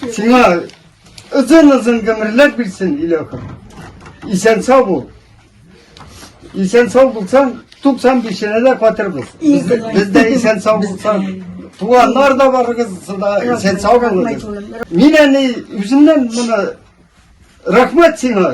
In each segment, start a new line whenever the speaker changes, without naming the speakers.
Сиңа озын-озын гомерләр бирсен, Иләхем. Исән сау бул. Исән сау булсаң, 95 дә фатирбыз. Без дә исән сау булсаң, туганнар да барыгыз да исән сау булыгыз. Мин әни үземнән моны рәхмәт сиңа.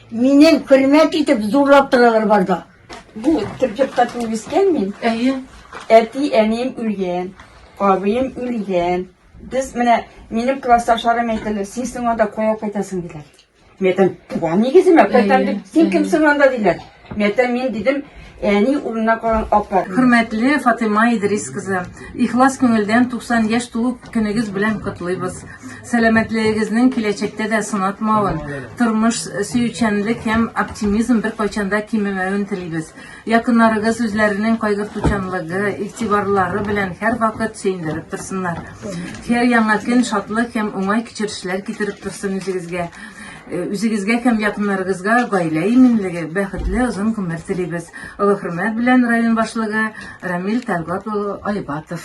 Минен хөрмәт итеп зурлап торалар барда. Бу төркепкә
туып үскән мин. Әйе.
Әти,
әнием үлгән, абыем үлгән. Без менә минем классташларым әйтәләр, син соң анда кая кайтасың диләр. Мин әйтәм, туган нигеземә кайтам дип, син кемсең анда диләр. Мин әйтәм, мин дидем, Әни урынына калган апа. Хөрмәтле Фатыйма
Идрис кызы, ихлас күңелдән 90 яшь туу көнегез белән котлыйбыз. Сәламәтлегегезнең киләчәктә дә сынатмавын, тормыш сөючәнлек һәм оптимизм беркайчан да кимемәвен телибез. Якыннарыгыз үзләренең кайгыртучанлыгы, игътибарлары белән һәрвакыт сөендереп торсыннар. Һәр яңа көн шатлык һәм уңай кичерешләр китереп торсын үзегезгә. Э, үзегезгә һәм якыннарыгызга гаилә иминлеге, бәхетле озын гомер телибез. Олы хөрмәт белән район башлыгы Рамил Тәлгат улы Айбатов.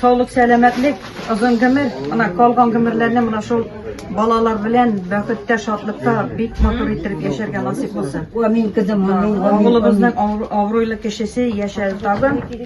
Саулык, сәламәтлек, озын гомер. Ана калган гомерләрне менә шул балалар белән бәхеттә, шатлыкта бик матур иттереп яшәргә насыйп булсын. Амин, кызым, амин. Авылыбызның авырлы кешесе яшәде тагын.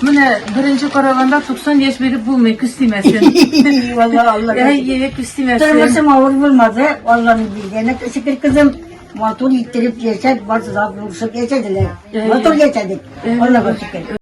Менә беренче караганда 90 яшь биреп булмый, күз тимәсен. Валла
Алла. Әйе, күз тимәсен.
Тормышым авыр булмады,
Алланың биргәне. Шөкер кызым, матур иттереп яшәп, бар зат булышып яшәделәр. Матур яшәдек, Аллага шөкер.